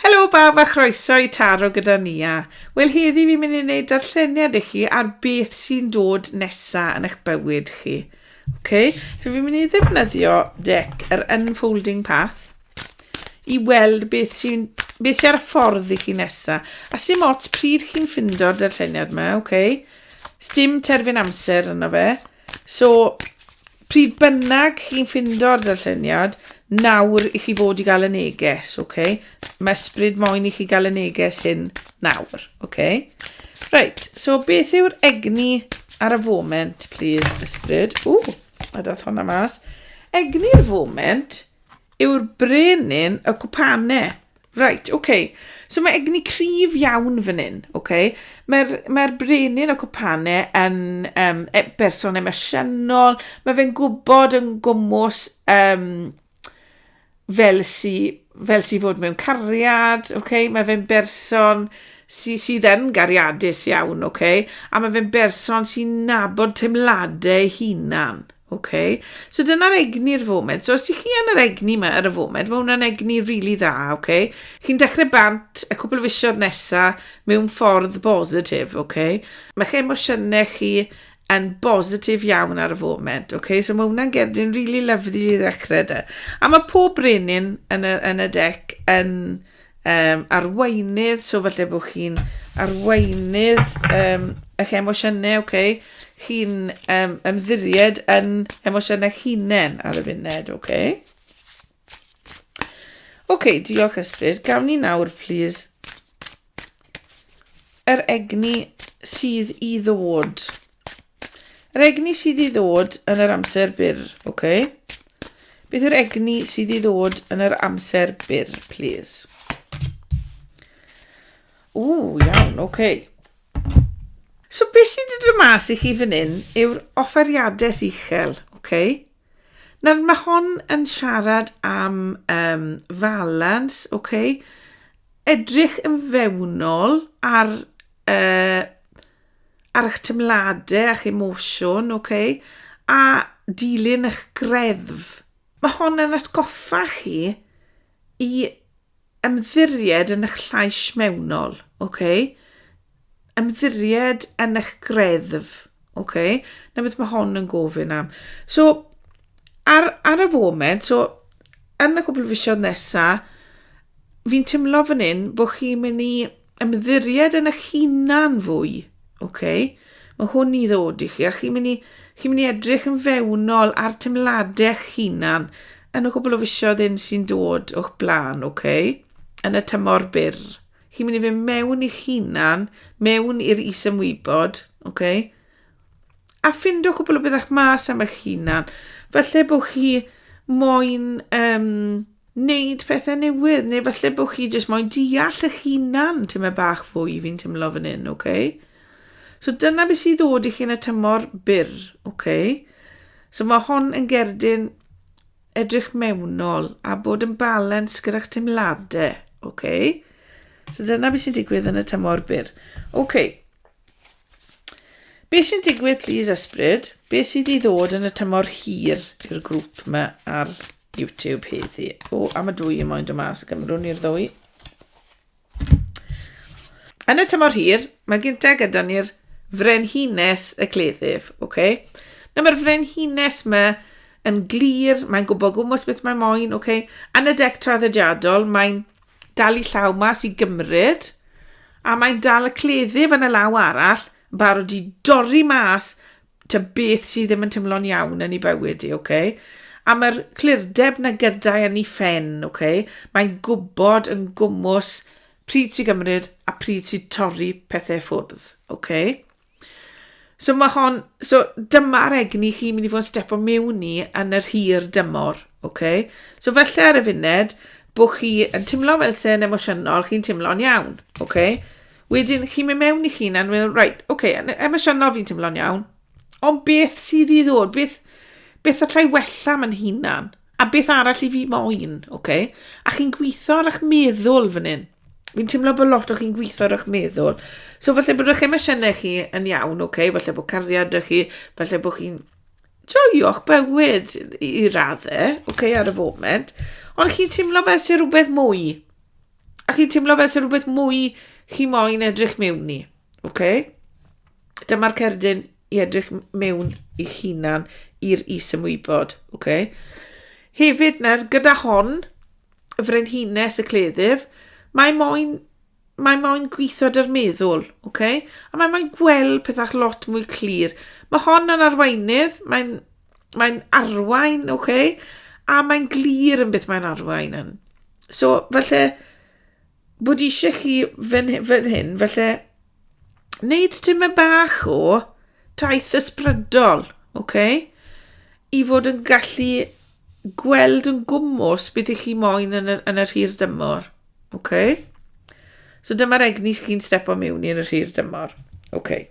Helo bawb a chroeso i Taro gyda Nia. Wel heddi fi'n mynd i wneud darlleniad i chi ar beth sy'n dod nesa yn eich bywyd chi. Okay? So fi'n mynd i ddefnyddio dec yr Unfolding Path i weld beth sy'n beth sy'n ar y ffordd i chi nesa. A sy'n ots pryd chi'n ffindo'r darlleniad yma, okay? Sdim terfyn amser yno fe. So, pryd bynnag chi'n ffindo'r darlleniad, nawr i chi fod i gael y neges, oce? Okay? Mae ysbryd moyn i chi gael y neges hyn nawr, oce? Okay? Reit, so beth yw'r egni ar y foment, please, ysbryd? Ww, mae dath hwnna mas. Egni'r foment yw'r brenin y cwpane. Reit, oce. Okay. So mae egni cryf iawn fan hyn, oce. Okay. Mae'r mae brenin o cwpane yn um, e, berson emosiynol. Mae fe'n gwybod yn gwmwys um, fel si, fel si fod mewn cariad, oce. Okay. Mae fe'n berson sy, sydd yn gariadus iawn, oce. Okay. A mae fe'n berson sy'n nabod teimladau hunan, OK. So dyna'r egni ar y foment. So os ydych chi yn yr egni yma ar y foment, mae hwnna'n egni rili really dda, OK. Chi'n dechrau bant y cwpl o fisioedd nesaf mewn ffordd bositif, OK. Mae chi emosiynau chi yn bositif iawn ar y foment, OK. So mae hwnna'n gerdyn rili really lyflu i ddechrau da. A mae pob brenin yn y, yn y dec yn um, arweinydd, so falle bod chi'n arweinydd um, eich emosiynau, oce, okay? chi'n um, ymddiried yn emosiynau hunain ar y funud, oce. Okay? Oce, okay, diolch ysbryd. Gawn ni nawr, please, yr egni sydd i ddod. Oce, Yr egni sydd i ddod yn yr amser byr, oce? Okay? Beth yw'r egni sydd i ddod yn yr amser byr, please? Ww, iawn, oce. Okay. So beth sydd wedi dod mas i chi fan hyn yw'r offeriadau uchel, oce? Okay? Nawr mae hon yn siarad am um, falans, oce? Okay? Edrych yn fewnol ar uh, ar eich teimladau a'ch emosiwn, oce, okay? a dilyn eich greddf. Mae hon yn atgoffa chi i ymddiried yn eich llais mewnol, oce? Okay? Ymddiried yn eich greddf, oce? Okay? Na beth mae hon yn gofyn am. So, ar, ar y foment, so, yn y cwbl fisiodd nesaf, fi'n teimlo fan hyn bod chi'n mynd i ymddiried yn eich hunan fwy. Okay? Mae hwn i ddod i chi, a chi'n mynd i, chi mynd i edrych yn fewnol ar teimladau eich hunan yn y cwbl o fisioedd un sy'n dod o'ch blaen, okay? yn y tymor byr. Chi'n mynd i fynd mewn i'ch hunan, mewn i'r isymwybod, okay? a ffindo cwbl o fyddech mas am eich hunan. Falle bod chi moyn um, wneud pethau newydd, neu falle bod chi jyst moyn deall eich hunan ti'n meddwl bach fwy fi'n tymlo fan hyn, oce? Okay? So dyna beth sydd ddod i chi yn y tymor byr, oce? Okay? So mae hon yn gerdyn edrych mewnol a bod yn balans gyda'ch teimladau, oce? Okay? So dyna beth sy'n digwydd yn y tymor byr. Oce, okay. Be sy'n digwydd, please, ysbryd? Be sydd i ddod yn y tymor hir i'r grŵp yma ar YouTube heddi? O, am y dwy i moyn dod mas, gymrwn i'r ddwy. Yn y tymor hir, mae gyntaf gyda ni'r frenhines y cleddyf, oce? Okay? Na, mae'r frenhines yma yn glir, mae'n gwybod gwmwys beth mae'n moyn, oce? Okay? Yn y dec traddodiadol, mae'n Dal i llaw mas i gymryd, a mae'n dal y cleddyf yn y law arall, yn barod i dorri mas ta beth sydd ddim yn tymlo'n iawn yn ei bywyd i, oce? A mae'r clirdeb na gydau yn ei phen, oce? Mae'n gwybod yn gwmws pryd sy'n gymryd a pryd sy'n torri pethau ffwrdd, oce? So mae hon, so dyma'r egni chi'n mynd i fod yn step o mewn i yn yr hir dymor, oce? Okay? So felly ar y funud, bod chi yn teimlo fel sy'n emosiynol, chi'n teimlo'n iawn, oce? Okay? Wedyn chi'n mynd mewn i chi na'n meddwl, right, oce, okay, yn emosiynol fi'n teimlo'n iawn, ond beth sydd i ddod, beth, beth allai wella ma'n hunan, a beth arall i fi moyn, oce? Okay? A chi'n gweithio ar eich meddwl fan hyn, fi'n teimlo bod lot o chi'n gweithio ar eich meddwl. So falle bod eich emosiynau chi yn iawn, oce, okay? falle bod cariad ydych chi, falle bod chi'n joio'ch bywyd i, i raddau, oce, okay, ar y foment, ond chi'n teimlo fel sy'n rhywbeth mwy. A chi'n teimlo fel sy'n rhywbeth mwy chi moyn edrych mewn i, oce? Okay? Dyma'r cerdyn i edrych mewn i'ch hunan i'r is ymwybod, oce? Okay? Hefyd, nawr, gyda hon, y frenhines y cleddyf, mae moyn mae moyn gweithio dy'r meddwl, okay? a mae moyn gweld pethau lot mwy clir. Mae hon yn arweinydd, mae'n mae arwain, okay? a mae'n glir yn beth mae'n arwain yn. So, felly, bod eisiau chi fan, fan hyn, felly wneud tyma bach o taith ysbrydol, oce? Okay? I fod yn gallu gweld yn gwmwys beth ych chi moyn yn yr, yn yr hir dymor, oce? Okay? So dyma'r egni chi'n stepo mewn i yn yr hir dymor, oce? Okay.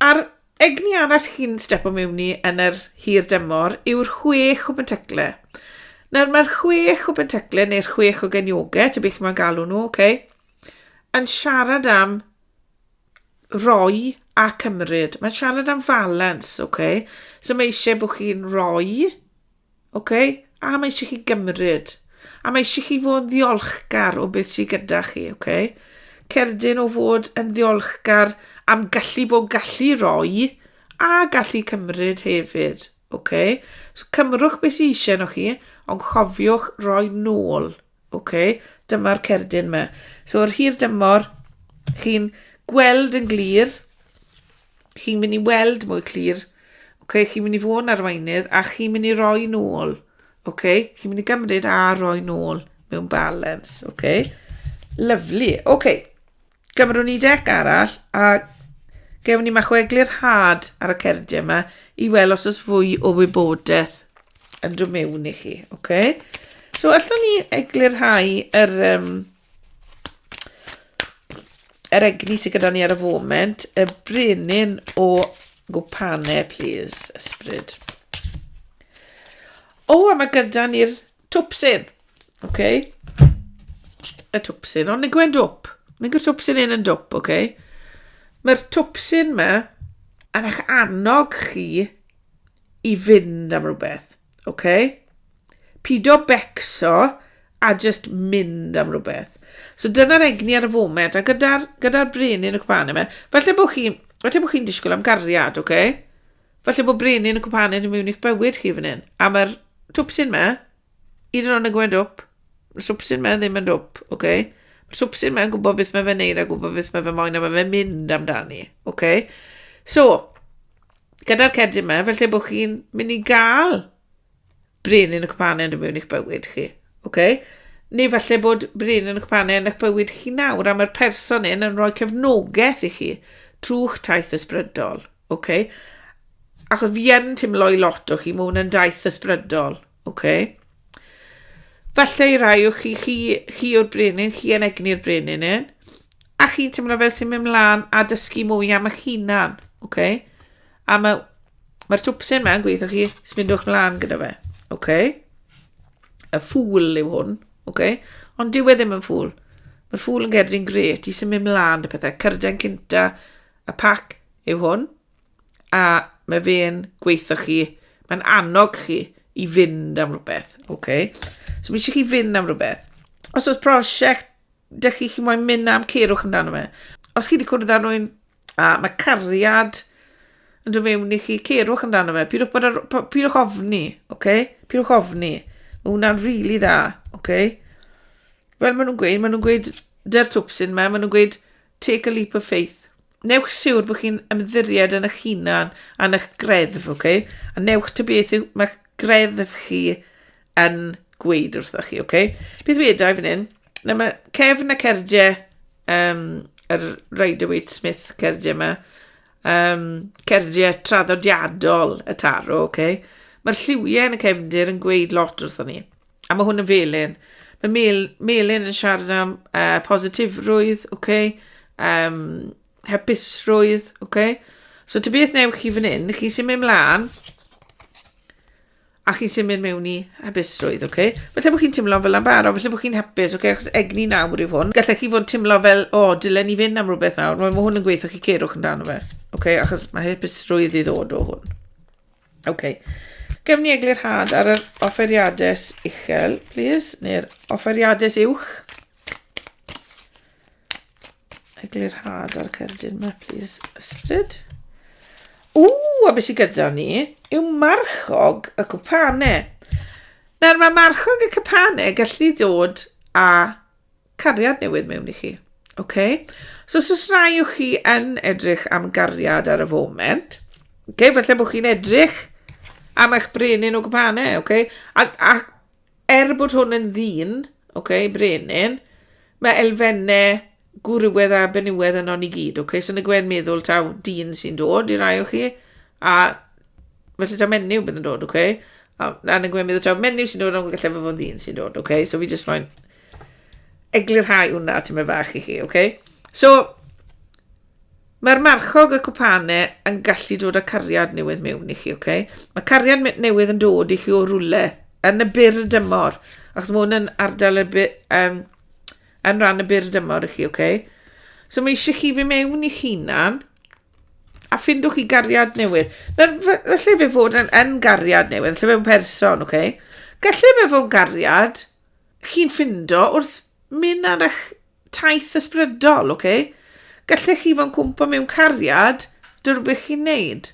A'r egni arall chi'n stepo mewn i yn yr hir dymor yw'r chwech o bentacle. Nawr mae'r chwech o bentacle neu'r chwech o genioge, ta beth mae'n galw nhw, okay, yn siarad am roi a cymryd. Mae'n siarad am falans, okay. So mae eisiau bod chi'n roi OK? A mae eisiau chi gymryd. A mae eisiau chi fod yn ddiolchgar o beth sydd gyda chi, OK? Cerdyn o fod yn ddiolchgar am gallu bod gallu roi a gallu cymryd hefyd, OK? So cymrwch beth sydd eisiau nhw chi, ond chofiwch roi nôl. Ok, dyma'r cerdyn me. So yr hir dymor, chi'n gweld yn glir, chi'n mynd i weld mwy clir, ok, chi'n mynd i fod yn arweinydd a chi'n mynd i roi nôl, ok, chi'n mynd i gymryd a roi nôl mewn balance, ok. Lyflu, ok. Gymrwn ni dec arall a gewn ni machweglu'r had ar y cerdiau yma i weld os oes fwy o wybodaeth yn dod mewn i chi. Okay? So, allwn ni eglurhau yr, um, yr egni sydd gyda ni ar y foment, y brenin o gwpane, please, ysbryd. O, a mae gyda ni'r Twpsyn! OK. Y twpsyn. Ond nig gwen dwp. Nig y twpsyn un yn dwp, OK. Mae'r twpsyn ma yn eich annog chi i fynd am rhywbeth, OK. Pido becso a just mynd am rhywbeth. So dyna'r egni ar y foment, a gyda'r gyda brenin y cwpan yma, falle bod chi, falle bod chi'n disgwyl am gariad, OK. Falle bod brenin y cwpaned yn mewn i'ch bywyd chi fan hyn. A mae'r twpsyn me, i dyn ond yn gwneud dwp. Mae'r swpsyn me ddim yn dwp, oce? Okay? Mae'r swpsyn me'n gwybod beth mae fe'n neud a gwybod beth mae fe moyn a mae fe'n mynd amdani, oce? Okay? So, gyda'r cedyn me, felly bod chi'n mynd i gael Brin yn y cwpanen yn mewn i'ch bywyd chi. Okay? Neu falle bod brin yn y cwpanen yn eich bywyd chi nawr a mae'r person yn yn rhoi cefnogaeth i chi trwy'ch taith ysbrydol. Okay? Achos fi yn teimlo i lot o chi, mae hwn yn daith ysbrydol. Okay? Falle i rai o chi, chi, chi o'r brenin, chi yn egni'r brenin yn, a chi'n teimlo fel sy'n mynd mlaen a dysgu mwy am eich hunan, okay? A mae... Mae'r twpsyn ma'n gweithio chi. Sbindwch mlaen gyda fe. OK. Y ffŵl yw hwn. OK. Ond dyw e ddim yn ffŵl. Mae'r ffŵl yn gerdyn gret i symud mlaen y pethau. Cyrden cynta y pac yw hwn. A mae fe'n gweithio chi. Mae'n annog chi i fynd am rhywbeth. OK. So mae eisiau chi fynd am rhywbeth. Os oes prosiect dych chi chi moyn mynd am cerwch amdano fe. Os chi wedi cwrdd â rhywun A mae cariad yn dod mewn i chi. Cerwch amdano fe. Pidwch, bod ar, p- pidwch ofni, oce? Okay? Pidwch ofni. Mae hwnna'n rili really dda, oce? Okay? Fel maen nhw'n gweud, maen nhw'n gweud, dy'r twpsyn yma, maen nhw'n gweud, take a leap of faith. Newch siwr bod chi'n ymddiried yn eich hunan a'n eich greddf, oce? Okay? A newch ty beth yw, mae greddf chi yn gweud wrthoch chi, oce? Okay? Beth wedau fan hyn? Na, mae Kevin a Cerdiau, um, yr Rider Waite Smith Cerdiau yma, um, Cerdiau traddodiadol y taro, oce? Okay? Mae'r lliwiau yn y cefndir yn gweud lot wrthon ni. A mae hwn yn felyn. Mae mel, melyn yn siarad am uh, positifrwydd, oce? Okay? Um, hapusrwydd, oce? Okay? So, ty beth newch chi fan hyn, chi sy'n mynd mlaen, a chi'n symud mewn i hapusrwydd, oce? Okay? Felly bod chi'n teimlo fel am baro, felly bod chi'n hapus, oce? Okay? Achos egni nawr yw hwn. Gallech chi fod yn teimlo fel, o, oh, dylen ni fynd am rhywbeth nawr. Mae hwn yn gweithio chi cerwch dan fe, oce? Okay? Achos mae hapusrwydd i ddod o hwn. Oce. Okay. Gefn ni eglurhad ar yr offeriadau uchel, please, neu'r offeriadau uwch. eglurhad ar cerdyn yma, plis, ysbryd. O, a beth sydd gyda ni yw marchog y cwpane. Nawr, mae marchog y cwpane gallu dod a cariad newydd mewn i chi. Okay? So, os oes rai o chi yn edrych am gariad ar y foment, okay, felly bod chi'n edrych am eich brenin o gwpane, okay? a, a Er bod hwn yn ddyn, okay, brenin, mae elfennau gwrywedd a benywedd yno ni gyd, okay? So nag e'n meddwl taw dyn sy'n dod i rai o chi, a felly taw menyw bydd yn dod, okay? A, a nag e'n meddwl taw menyw sy'n dod, ond gallai fod ddyn sy'n dod, okay? So fi jyst moyn eglurhau hwnna, ti'n meddwl fach i chi, okay? So, Mae'r marchog, y cwpane, yn gallu dod â cariad newydd mewn i chi, oce? Okay? Mae cariad newydd yn dod i chi o rwle yn y byr y dymor, achos mae hwn yn ardal y byr, um, yn rhan y byr y dymor i chi, oce? Okay? So mae eisiau chi fi mewn i chi hunan, a ffindwch chi gariad newydd. Nawr, felly fe fod yn, yn gariad newydd, lle fe'n person, oce? Okay? Gallu fe fod yn gariad chi'n ffindo wrth Mynd ar eich taith ysbrydol, oce? Okay? Gallech chi fo'n cwmpa mewn cariad, dy'r rhywbeth chi'n neud.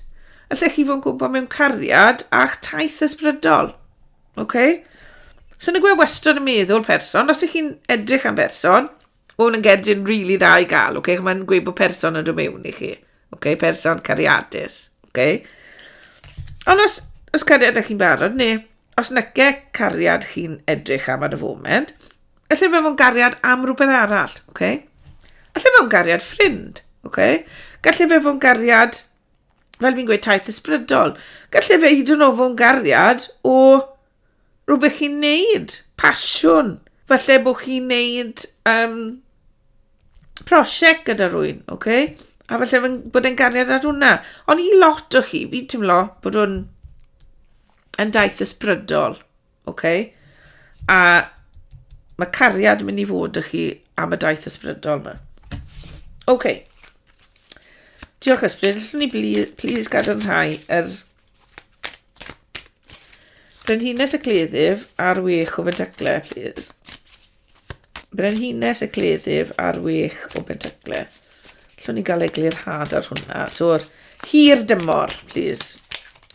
Allech chi fo'n cwmpa mewn cariad a'ch taith ysbrydol, oce? Okay? Sy'n y gwe wastad yn meddwl person, os ych chi'n edrych am berson, o, yn gerdyn rili really dda i gael, oce? Okay? Mae'n gweud bod person yn dod mewn i chi. Ok, person cariadus. Ok. Ond os, os cariadau chi'n barod, neu os nyce cariad chi'n edrych am ar y foment, allai fe fo'n gariad am rhywbeth arall, oce? Okay? Allai fe fo'n gariad ffrind, oce? Okay? Gallai fe fo'n gariad, fel fi'n gweud, taith ysbrydol. Gallai fe hyd yn oed fo'n gariad o rhywbeth chi'n neud, pasiwn. Falle bod chi'n neud um, prosiect gyda rwy'n, oce? Okay? A falle fy, bod e'n gariad ar hwnna. Ond i lot o chi, fi'n teimlo bod hwn yn daith ysbrydol, oce? Okay? A mae cariad yn mynd i fod ych chi am y daith ysbrydol yma. Oce. Okay. Diolch ysbryd. Llwn ni please gadarnhau yr Brenhines y cleddyf ar wech o bentacle, please. Brenhines y cleddyf ar wech o bentacle. Llwn ni gael eglur had ar hwnna. So'r hir dymor, please.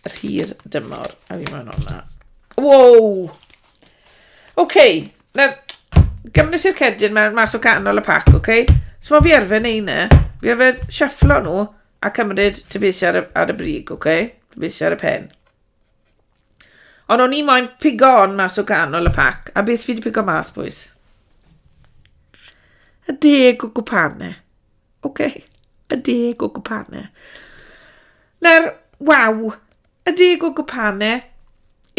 Yr hir dymor. A fi maen hwnna. Wow! Oce, okay. nawr, gymryd i'r cedyn mewn mas o canol y pac, oce? Okay? So mae fi arfer neu hynna. Fi arfer siafflo nhw A cymryd tyfeisiau ar y, ar y brig, oce? Okay? Tyfeisiau ar y pen. Ond o'n i moyn pigo on mas o ganol y pac, a beth fi wedi pigo mas, bwys? Y deg o gwpane. Oce, okay. y deg o gwpane. Na'r, waw, y deg o gwpane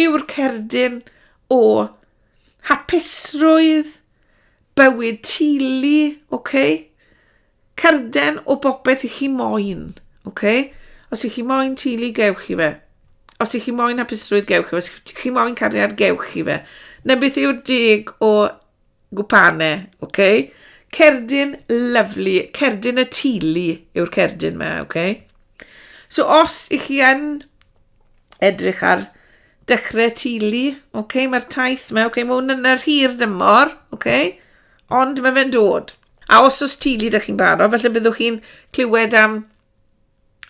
yw'r cerdyn o hapusrwydd, bywyd tili, oce? Okay? Cerden o bopeth i chi moyn. Ok? Os i chi moyn tili, gewch chi fe. Os i chi moyn hapusrwydd, gewch chi fe. Os i chi moyn cariad, gewch chi fe. Na beth yw'r deg o gwpane, ok? Cerdyn lyflu, cerdyn y tili yw'r cerdyn yma, ok? So os i chi yn edrych ar dechrau tili, ok? Mae'r taith yma, ok? Mae hwn yn yr hir dymor, ok? Ond mae fe'n dod. A os oes tili ydych chi'n barod, felly byddwch chi'n clywed am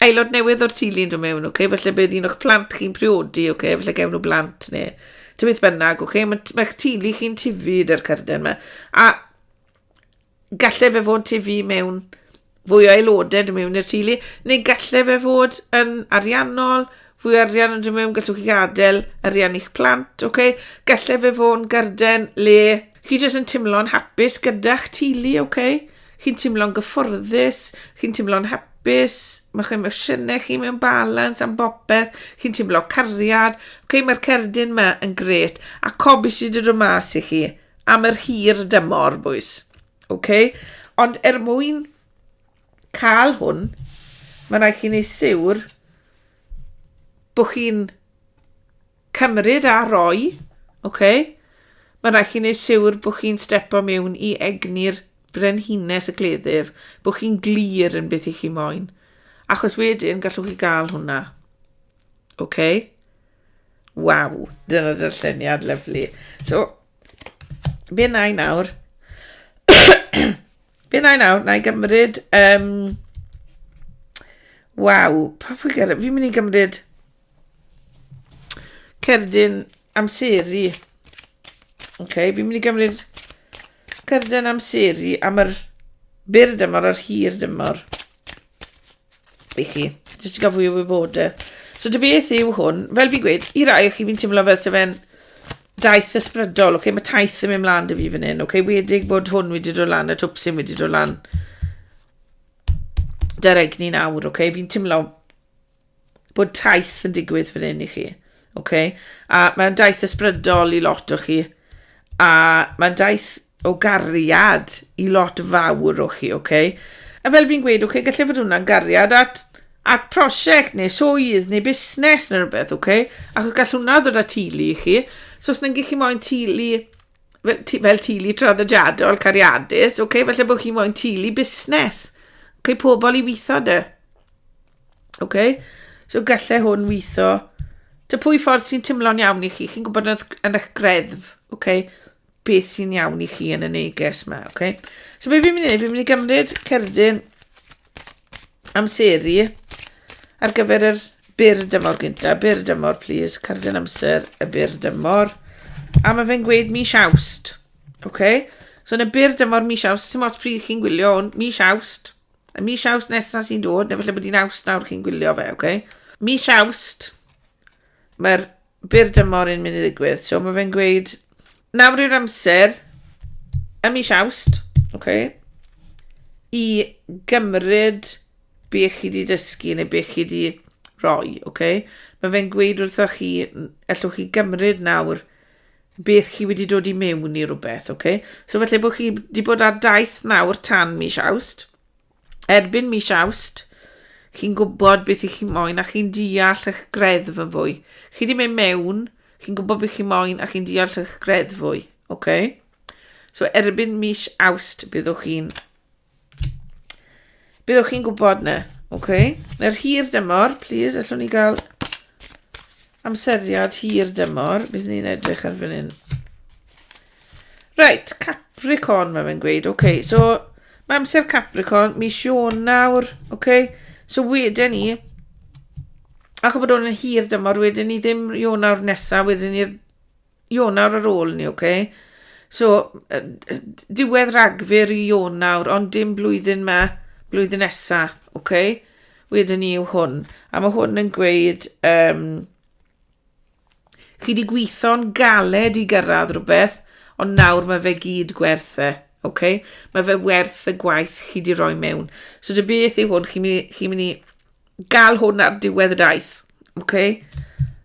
aelod newydd o'r tili yn dod mewn, okay? felly bydd un o'ch plant chi'n priodi, okay? felly gewn nhw blant neu ti beth bynnag, okay? mae'ch mae tili chi'n tifu dy'r cyrden yma. A gallai fe fod tifu mewn fwy o aelodau yn mewn i'r teulu, neu gallai fe fod yn ariannol, fwy arian yn dod mewn, gallwch chi gadael arian i'ch plant, oce? Okay? Gallai fe fod yn garden le chi jyst yn teimlo'n hapus gyda'ch teulu, oce? Okay? Chi'n teimlo'n gyfforddus, chi'n teimlo'n hapus, mae chi'n emosiynau chi mewn balans am bopeth, chi'n teimlo cariad, oce? Okay? Mae'r cerdyn yma yn gret, a cob sydd wedi dod mas i chi am yr hir dymor, bwys. Ok? Ond er mwyn cael hwn, mae rhaid chi wneud siwr bod chi'n cymryd a roi, ok? Mae rhaid chi wneud siwr bod chi'n stepo mewn i egni'r brenhines y cleddyf, bod chi'n glir yn beth i chi moyn. Achos wedyn gallwch chi gael hwnna. Ok? Waw, dyna dy'r lluniad, lyflu. So, be na i nawr? be na i nawr? Na i gymryd... Um, waw, pa fwy gyda? Fi'n mynd i gymryd cerdyn amseru. Oce, okay, fi'n mynd i gymryd cerdyn amseru am yr byr dymor a'r hir dymor. i chi, jyst i gael fwy o wybodaeth. So dy beth yw hwn, fel fi'n gweud, i rai chi fi'n teimlo fel sef e'n daith ysbrydol, okay? mae taith yn mynd mlaen dy fi fan hyn, okay? wedig bod hwn wedi dod lan, y twp sy'n wedi dod lan. Dy'r egni nawr, okay? fi'n teimlo bod taith yn digwydd fan hyn i chi. Ok, a mae'n daith ysbrydol i lot o chi, a mae'n daith o gariad i lot fawr o chi, ok? A fel fi'n gweud, ok, gallai fod hwnna'n gariad at, at prosiect neu swydd neu busnes neu rhywbeth, ok? Ac gall hwnna ddod â tulu i chi. So os nag chi moyn tulu, fel, fel tulu traddodiadol, cariadus, ok, felly bod chi moyn tulu busnes. Ok, pobl i weithio dy. Oce? Okay? So gallai hwn weithio. Dy pwy ffordd sy'n timlo'n iawn i chi. Chi'n gwybod yn eich greddf, oce? Okay? Beth sy'n iawn i chi yn y neges yma, oce? Okay? So be fi'n mynd i wneud, fi'n mynd i gymryd cerdyn amseru ar gyfer yr byr dymor gynta. Byr dymor, please. Cerdyn amser y byr dymor. A mae fe'n gweud mis awst. Oce? Okay? So yn y byr dymor mis awst, sy'n mots pryd chi'n gwylio hwn, mis awst. Y mis Awst nesaf sy'n dod, neu falle bod hi'n Awst nawr chi'n gwylio fe, oce? Mis Awst, mae'r byr dymor yn mynd i ddigwydd. So mae fe'n gweud, nawr yw'r amser, y mis Awst, oce? i gymryd be chi wedi dysgu neu be chi wedi rhoi, oce? Mae fe'n gweud wrthoch chi, allwch chi gymryd nawr beth chi wedi dod i mewn i rhywbeth, oce? Okay? So felly bod chi wedi bod ar daith nawr tan mis awst, erbyn mis awst, chi'n gwybod beth i chi moyn a chi'n deall eich greddf yn fwy. Chi wedi mynd mewn, chi'n gwybod beth chi moyn a chi'n deall eich greddf fwy, oce? Okay? So erbyn mis awst byddwch chi'n Byddwch chi'n gwybod na. OK. Yr hir dymor, please, allwn ni gael amseriad hir dymor. Bydd ni'n edrych ar fan hyn. Right, Capricorn, mae fe'n gweud. OK, so mae amser Capricorn, mis nawr. OK, so wedyn ni, ac o bod o'n hir dymor, wedyn ni ddim nawr nesaf, wedyn ni'r Ionawr ar ôl ni, oce? So, yy, yy, d- diwedd Ragfyr i Ionawr, ond dim blwyddyn ma, blwyddyn nesa, oce? Wedyn ni yw hwn. A mae hwn yn gweud, um, chi di gweithio'n galed i gyrraedd rhywbeth, ond nawr mae fe gyd gwerth e, oce? Mae fe werth y gwaith chi di roi mewn. So dy beth yw hwn, chi'n mynd i, chi mynd i gael hwn ar diwedd y daith. Okay?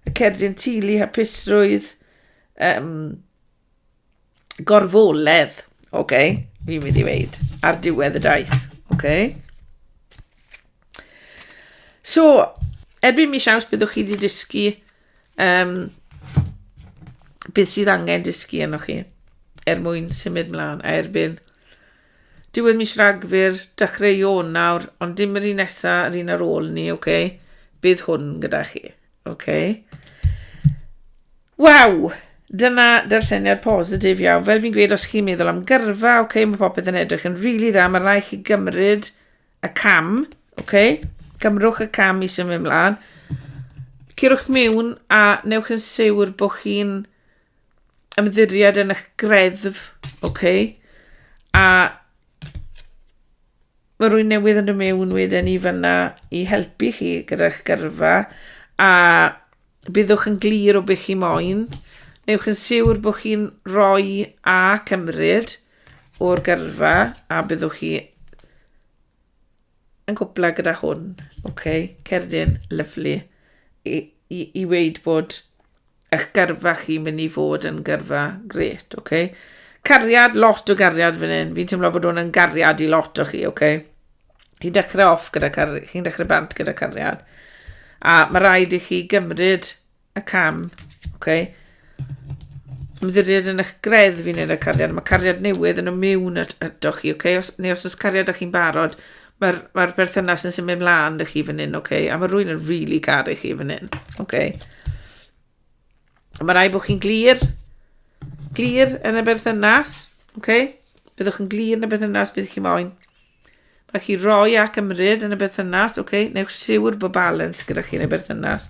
Y cerdyn tulu, hapusrwydd, um, gorfoledd, okay? fi'n mynd i weid, ar diwedd y daith. Okay? So, erbyn mis aws byddwch chi wedi dysgu um, beth sydd angen dysgu yno chi er mwyn symud mlaen a erbyn Diwedd mis Rhagfyr, dechrau Ionawr, ond dim yr un nesa, yr un ar ôl ni, oce? Okay? Bydd hwn gyda chi, oce? Okay? Waw! Dyna darlleniad positif iawn. Fel fi'n gweud, os chi'n meddwl am gyrfa, oce, okay, mae popeth yn edrych yn rili really dda, mae rai chi gymryd y cam, oce? Okay? Cymrwch y cam i symud ymlaen. Cyrwch mewn a newch yn siwr bod chi'n ymddiried yn eich greddf, ok, a mae rwy'n newydd yn dod mewn wedyn i fyna i helpu chi gyda'ch gyrfa a byddwch yn glir o beth chi moyn. Newch yn siwr bod chi'n rhoi a cymryd o'r gyrfa a byddwch chi yn gwbla gyda hwn. Ok, cerdyn, lyflu. I, i, i weid bod Eich gyrfa chi mynd i fod yn gyrfa gret, oce? Okay? Cariad, lot o gariad fan hyn. Fi'n teimlo bod hwn yn gariad i lot o chi, oce? Okay? Chi'n dechrau off gyda cariad, chi'n dechrau bant gyda cariad. A mae rhaid i chi gymryd y cam, oce? Okay? Ymddiried yn eich gredd fi'n neud y cariad. Mae cariad newydd yn y mewn ydych chi, oce? Okay? Os, neu os oes cariad â chi'n barod, Mae'r mae berthynas yn symud mlaen dy chi fan hyn, oce? Okay? A mae rwy'n yn rili really garu chi fan hyn, oce? Okay? Mae rai bod chi'n glir, glir yn y berthynas, oce? Okay? Byddwch yn glir yn y berthynas bydd chi moyn. Mae chi roi ac ymryd yn y berthynas, oce? Okay? Newch siwr bod balans gyda chi yn y berthynas.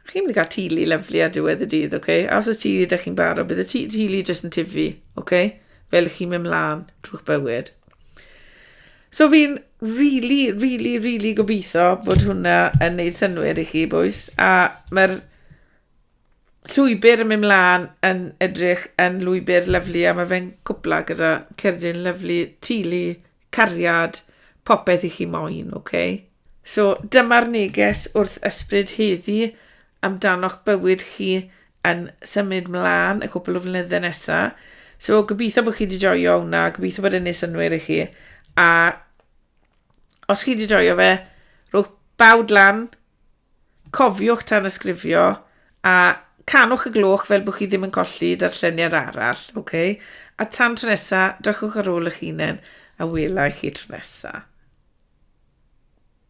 Chi'n mynd i gael tili lyflu ar diwedd y dydd, oce? Okay? A os y tili ydych chi'n barod, bydd y tili jyst yn tifu, oce? Okay? fel i chi mynd mlaen drwy'ch bywyd. So fi'n really, really, really gobeithio bod hwnna yn neud synwyr i chi, bwys. A mae'r llwybr yn mynd mlaen yn edrych yn lwybr lyflu a mae fe'n cwpla gyda cerdyn lyflu, tulu, cariad, popeth i chi moyn, oce? Okay? So dyma'r neges wrth ysbryd heddi amdano'ch bywyd chi yn symud mlaen y cwpl o flynyddau nesaf. So, gobeithio bod chi wedi joio hwnna, gobeithio bod yn ei synwyr i chi. A os chi wedi joio fe, rhywch bawd lan, cofiwch tan ysgrifio, a canwch y gloch fel bod chi ddim yn colli darlleniad arall, oce? Okay? A tan tro nesaf, drychwch ar ôl eich hunain a wela i chi tro nesaf.